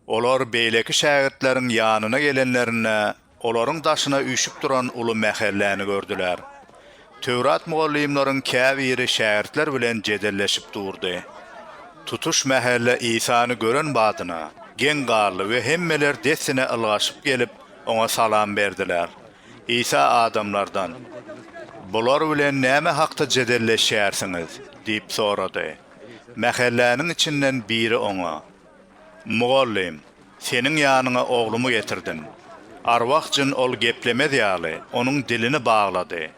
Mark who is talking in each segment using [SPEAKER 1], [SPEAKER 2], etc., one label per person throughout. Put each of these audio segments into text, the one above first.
[SPEAKER 1] Olar beýleki şägirtleriň ýanyna gelenlerinde, olaryň daşyna üýşüp duran uly mähelläni gördüler. Töwrat mugallymlaryň käbiri şägirtler bilen jedelleşip durdy. Tutuş mähelle Isany gören badyna, geň galdy we hemmeler dessine ylgaşyp gelip, oňa salam berdiler. Isa adamlardan, Bular bilen näme hakda jedelleşýärsiňiz? diýip sorady. Mähelläniň içinden biri oňa, Mugallym, seniň ýanyňa oglumy getirdim. Arwah jyn ol geplemez ýaly, onuň dilini baglady.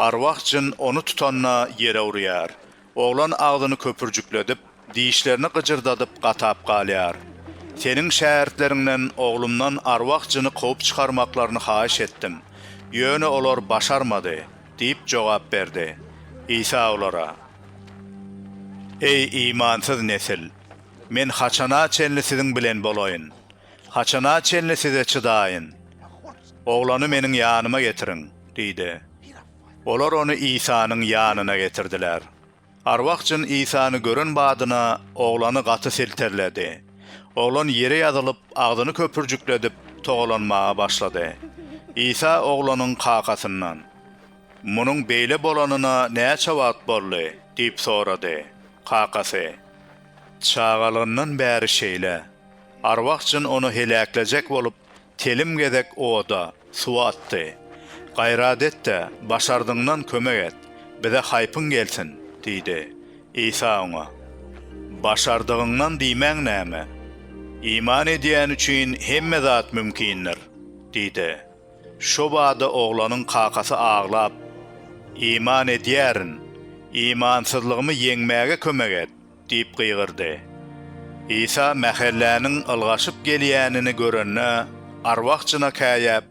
[SPEAKER 1] Arwah jyn ony tutanda ýere urýar. Oglan agzyny köpürjikledip, dişlerini gyjyrdadyp gatap galýar. Seniň şägirtleriňden oglumdan arwah jyny kowup çykarmaklaryny haýyş etdim. Ýöne olar başarmady. Diýip jogap berdi. Isa olara, Eý, imansyz nesil! Men haçana çenli siziň bilen bolaýyn? Haçana çenli size çydaýyn? Oglany meniň ýanyma getiriň! diýdi. Olar ony Isanyň ýanyna getirdiler. Arwah jyn Isany gören badyna oglany gaty silterledi. Oglan ýere ýazylyp, agzyny köpürjikledip, togalanmaga başlady. Isa oglanyň kakasyndan, Munuň beýle bolanyna näçe wagt boldy? diýip sorady. Kakasy, Çagalygyndan bäri şeýle. Arwah jyn ony heläklejek bolup, Telim gezek oda, suwa atdy. Gaýrat et-de, başardygyňdan kömek et, bize haýpyň gelsin! diýdi. Isa oňa. Başardygyňdan diýmäň näme? Iman edýän üçin hemme zat mümkindir! diýdi. Şo bada oglanyň kakasy aglap. Iman edýärin! Imansyzlygymy ýeňmäge kömek et! Diýip gygyrdy. Isa mähelläniň ylgaşyp gelýänini görende, arwah-jyna käýäp,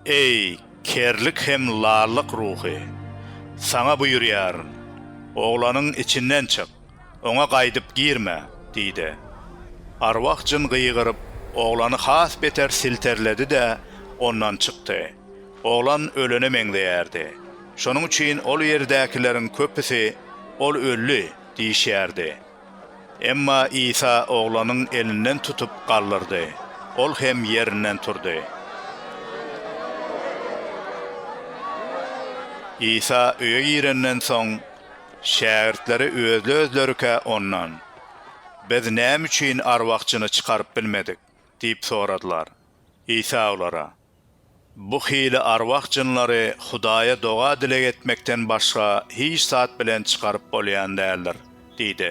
[SPEAKER 1] Eý, kerlik hem lallyk ruhy! Saňa buýurýaryn, oglanyň içinden çyk, oňa gaýdyp girme! diýdi. Arwah-jyn gygyryp, oglany has beter silterledi-de, ondan çykdy. Oglan ölene meňzeýärdi. Şonuň üçin ol ýerdäkileriň köpüsi, Ol öldi! diýişýärdi. Emma Isa oglanyň elinden tutup galdyrdy, ol hem ýerinden turdy. Isa öýe girenden soň, şägirtleri özli-özlerikä Ondan, Biz näme üçin arwahçyny çykaryp bilmedik? diýip soradylar. Isa olara. Bu hili arwah jynlary Hudaýa doga-dileg etmekden başga hiç zat bilen çykaryp bolýan däldir, diýdi.